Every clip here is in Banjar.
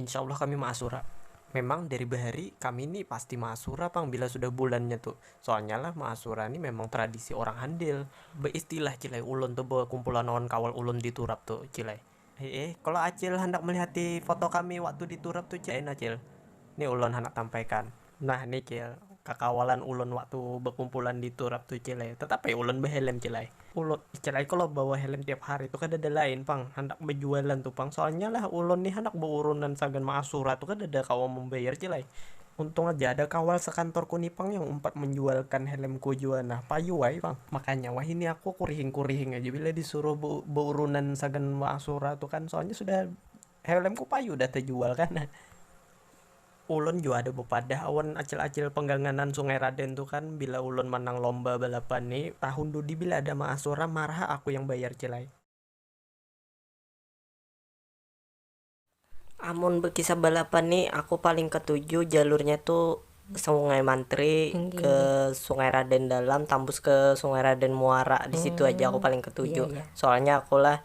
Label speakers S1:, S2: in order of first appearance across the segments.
S1: Insya Allah kami maasura. Memang dari bahari kami ni pasti maasura pang bila sudah bulannya tu. Soalnya lah maasura ni memang tradisi orang handil. Baistilah cil ai ulun tu bakumpulan lawan kawal ulun di turap tu cil ai. Hihi, kalo acil handak malihati foto kami waktu di turap tu cil ai nah cil. Ni ulun handak tampaikan. Nah ni cil, kakawalan ulun waktu bakumpulan di turap tu cil ai, tetap ai ulun bahelm cil ai. Ulun nih cil ai kalo bawa helm tiap hari tu kadada lain pang handak bajualan tu pang, soalnya lah ulun nih handak baurunan sagan maasura tu kadada kawa mambayar cil ai. Untung aja ada kawal sakantorku ni pang yang umpat manjualkan helmku jua nah, payu ai pang. Makanya wahini aku kurihing-kurihing aja bila disuruh baurunan sagan maasura tu kan, soalnya sudah helmku payu dah tajual kan. Ulun jua ada bapadah awan acil-acil pangganganan Sungai Raden tu kan, bila ulun manang lomba balapan ni, tahun dudi bila ada maasura marah aku yang bayar cil ai.
S2: Amun bakisah balapan ni aku paling katuju jalurnya tu Sungai Mantri ke Sungai Raden Dalam tambus ke Sungai Raden Muara disitu haja aku paling katuju soalnya aku
S3: lah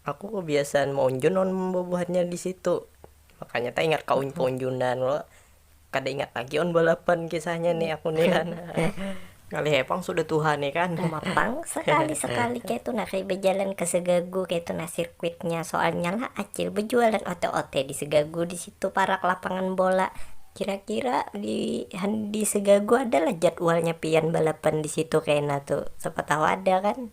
S2: Aku kebiasaan maunjun lawan bubuhannya di situ, makanya taingat kaunjunan lo, kada ingat lagi lawan balapan kisahnya nih aku nih kan, ngalih ai pang sudah tuha nih kan. Uma pang sekali
S3: sekali kayatu nah kaya bajalan ke segagu kayatu nah sirkuitnya, soalnya lah acil bejualan ote ote di segagu di situ parak lapangan bola, kira kira di di segagu ada lah jadwalnya pian balapan di situ kena tuh, siapa tahu ada kan.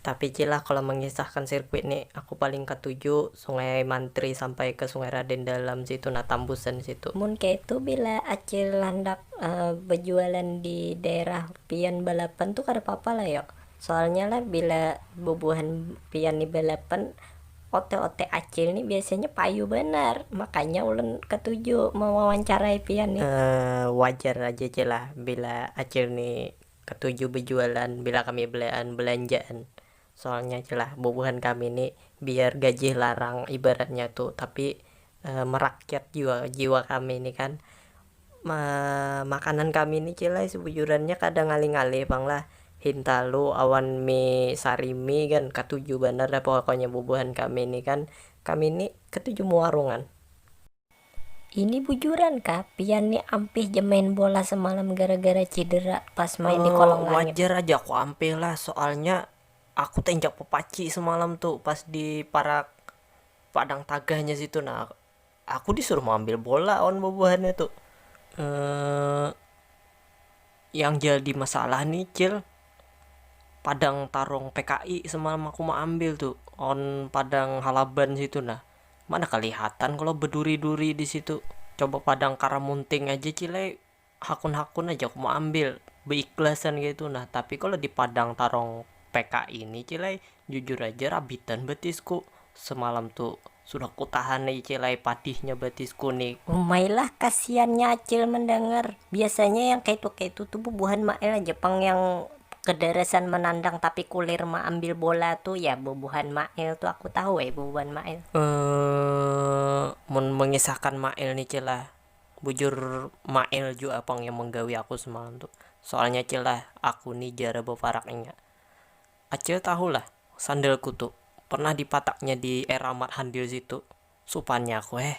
S2: Tapi Ci lah kalau mengisahkan sirkuit ni aku paling katuju sungai mantri sampai ke sungai raden dalam situ nah tambusan situ. Mun kaitu bila
S3: acil handak bejualan di daerah pian balapan tu kada papa lah yo, soalnya lah bila bubuhan pian ni balapan ote ote acil ni biasanya payu banar makanya ulun katuju mewawancarai pian ni. Wajar
S2: aja Ci lah bila acil ni Katuju bejualan bila kami belean belanjaan soalnya ja lah bubuhan kami ni biar gajih larang ibaratnya tu tapi merakyat jua jiwa kami ni kan makanan kami ni cil ai sebujurannya kada ngalih ngalih pang lah hintalu awan mie sarimi kan katuju banar dah pokoknya bubuhan kami ni kan kami ni ketuju mewarungan.
S3: Ini bujuran kah pian ni ampih ja main bola semalam gara-gara cidera pas main di kolong langit? Wajar aja aku ampih
S2: lah, soalnya aku teinjak papaci semalam tu pas di parak padang tagahnya situ nah, aku disuruh maambil bola awan bubuhannya tu, yang jadi masalah ni cil padang tarung pki semalam aku maambil tu awan padang halaban situ nah. Mana kalihatan kalo beduri-duri di situ, coba padang karamunting aja cile hakun-hakun aja aku meambil beikhlasan kaitu nah, tapi kalo di padang tarong pki ni cile jujur aja rabitan betisku, semalam tu sudah kutahan ni cile padihnya betisku ni. Umai lah kasiannya
S3: acil mendengar, biasanya yang kaitu-kaitu tu bubuhan mail aja pang yang. Kedarasan menandang tapi kulir meambil bola tu ya bubuhan Mail tu aku tahu ai bubuhan Mail.
S2: Mun mengisahkan Mail ni cil lah, bujur Mail jua pang yang menggawi aku semalam tu. Soalnya cil lah, aku ni jara beparak inya. Acil tahu lah, sandalku tu, pernah dipataknya di era Mat Handil situ. Supannya aku heh.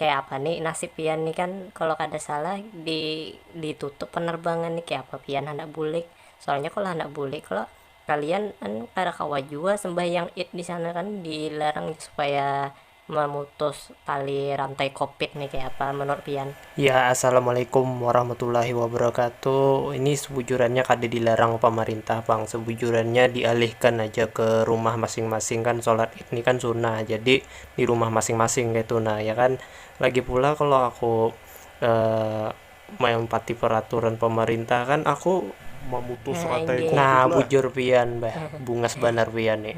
S3: Kaya apa ni nasib pian ni kan kalo kada salah di ditutup penerbangan ni kaya apa pian handak bulik soalnya kalo handak bulik kalo kalian anu kada kawa jua sembahyang id disana kan dilarang supaya memutus tali rantai kopit ni kaya apa menurut pian. Ya assalamualaikum
S1: warahmatullahi wabarakatuh ini sebujurannya kada dilarang pamarintah pang sebujurannya dialihkan aja ke rumah masing-masing kan solat id ni kan sunnah jadi di rumah masing-masing kaitu nah ya kan lagi pula kalau aku uh, melompati peraturan pemerintah kan aku memutus nah, rantai covid nah
S3: bujur pian
S1: bah bungas banar pian nih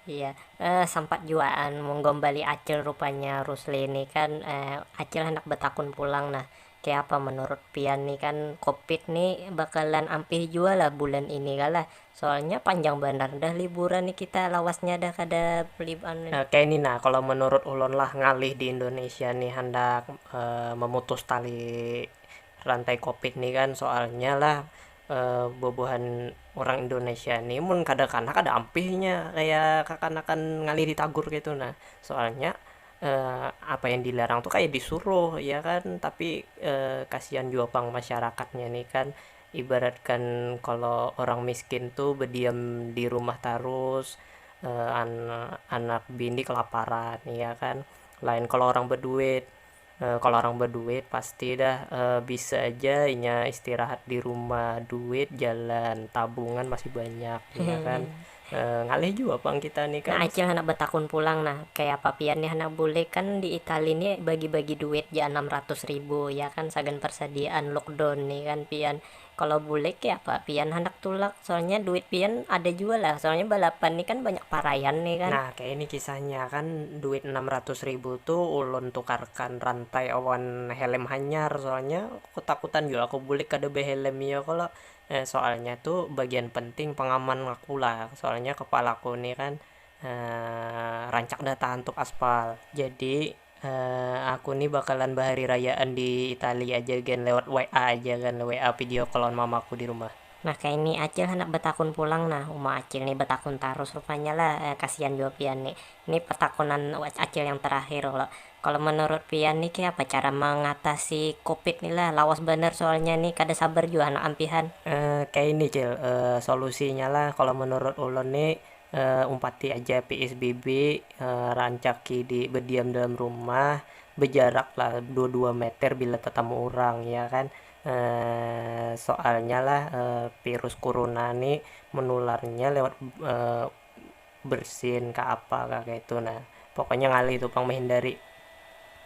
S1: Iya,
S3: eh, sempat juaan menggombali Acil rupanya Rusli ini kan eh, Acil hendak betakun pulang nah Kayapa menurut pian nih kan covid nih bakalan ampih jua lah bulan ini kah lah soalnya panjang banar dah liburan nih kita lawasnya dah kada anu. Kaya ini nah kalo
S1: menurut ulun lah ngalih di indonesia nih handak memutus tali rantai covid nih kan soalnya lah bubuhan urang indonesia nih mun kada kanah kada ampih inya kaya kakanakan ngalih di tagur kaytu nah soalnya. apa yang dilarang tuh kayak disuruh ya kan tapi kasihan jua pang masyarakatnya nih kan ibaratkan kalau orang miskin tuh berdiam di rumah tarus anak bini kelaparan ya kan lain kalau orang berduit kalau orang berduit pasti dah bisa aja inya istirahat di rumah duit jalan tabungan masih banyak ya kan. Ngalih jua pang kita ni kan. Nah acil handak batakun pulang
S3: nah, kayapa pian ni handak bulik, kan di itali ni bagi-bagi duit ja anam ratus ribu ya kan sagan persadiaan lookdown ni kan pian, kalo bulik kayapa pian handak tulak, soalnya duit pian ada jua lah, soalnya balapan ni kan banyak paraian ni kan. Nah kaya ini kisahnya,
S1: kan duit anam ratus ribu tu ulun tukarkan rantai awan helm hanyar, soalnya ketakutan jua aku bulik kada behelm iyo kalo. Nah soalnya tu bagian penting pengaman aku lah, soalnya kepalaku ni kan rancak dah tahantuk aspal, jadi aku ni bakalan bahari rayaan di itali aja gen lewat WA aja kan, WA video call lawan mamaku di rumah. Nah kaya ni acil
S3: handak betakun pulang nah, uma acil ni betakun tarus rupanya lah, kasian jua pian ni, ni pertakunan acil yang terakhir kalo. Kalo menurut pian nih kayapa cara mengatasi covid nih lah, lawas banar soalnya nih kada sabar jua handak ampihan. Kaini cil,
S1: solusinya lah kalo menurut ulun nih umpati aja psbb, rancaki di bediam dalam rumah, bejarak lah dua dua meter bila tetamu urang ya kan, soalnya lah virus kuruna nih menularnya lewat. bersin kah apa kah kaitu nah pokoknya ngalih tu pang mehindari.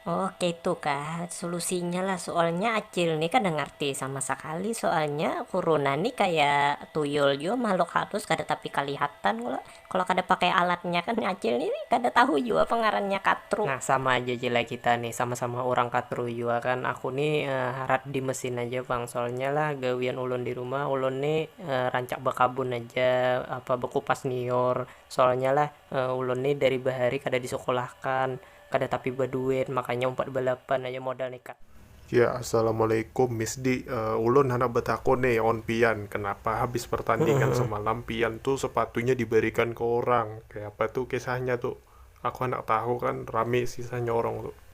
S1: Oh
S3: kaitu kah solusinya lah soalnya acil ni kada ngarti sama sakali soalnya kuruna ni kaya tuyul jua mahluk halus kada tapi kalihatan kalo kalo kada pakai alatnya kan acil ni kada tahu jua apa ngarannya katru. Nah sama aja ja lah
S1: kita ni sama sama urang katru jua kan aku ni harat di mesin aja pang soalnya lah gawian ulun di rumah ulun ni. rancak bakabun haja, apa bakupas liur, soalnya lah ulun ni dari bahari kada disekolahakan, kada tapi baduit, makanya umpat balapan haja modal ni kak. Ya,
S4: Assalamualaikum Miss Di, ulun handak batakun ni awan pian, kanapa habis pertandingan semalam pian tu sepatunya dibarikan ke urang, kayapa tu kisahnya tu, aku handak tahu kan rami kisahnya urang tu.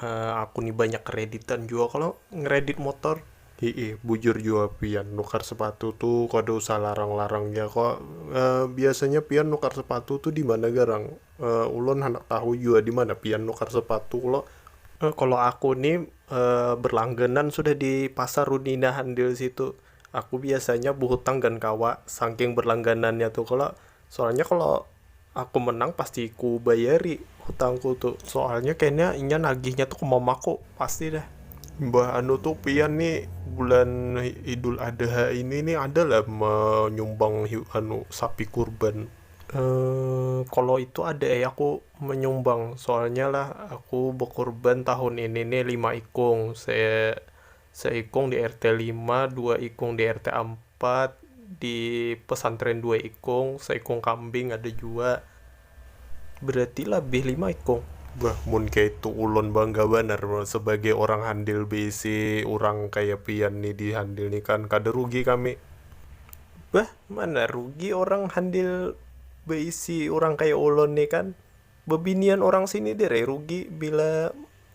S4: Uh, aku nih banyak kreditan juga kalau ngredit motor. Hiih, bujur juga pian nukar sepatu tuh kada usah larang-larangnya kok. Uh, biasanya pian nukar sepatu tuh di mana garang? Uh, ulun hendak tahu juga di mana pian nukar sepatu kalau uh, kalau aku nih uh, berlangganan sudah di pasar Runina handil situ. Aku biasanya buhutang gan kawa saking berlangganannya tuh kalau Soalnya kalau aku menang pasti ku bayari hutangku tuh. Soalnya kayaknya inya nagihnya tuh ke mamaku, pasti dah. Mbah anu tuh pian nih bulan Idul Adha ini nih ada lah menyumbang anu sapi kurban. Emm, kalau itu ada eh aku menyumbang, soalnya lah aku bekurban tahun ini nih lima ikung, se Seikung di RT lima, dua ikung di RT ampat, di pesantren dua ikung, seikung kambing ada jua. Berarti labih lima ikung. Bah, mun kaya itu ulun bangga banar sebagai urang handil beisi urang kaya pian ni di handil ni kan, kada rugi kami. Bah, mana rugi urang handil beisi urang kaya ulun ni kan. Bebinian urang sini dir ai rugi bila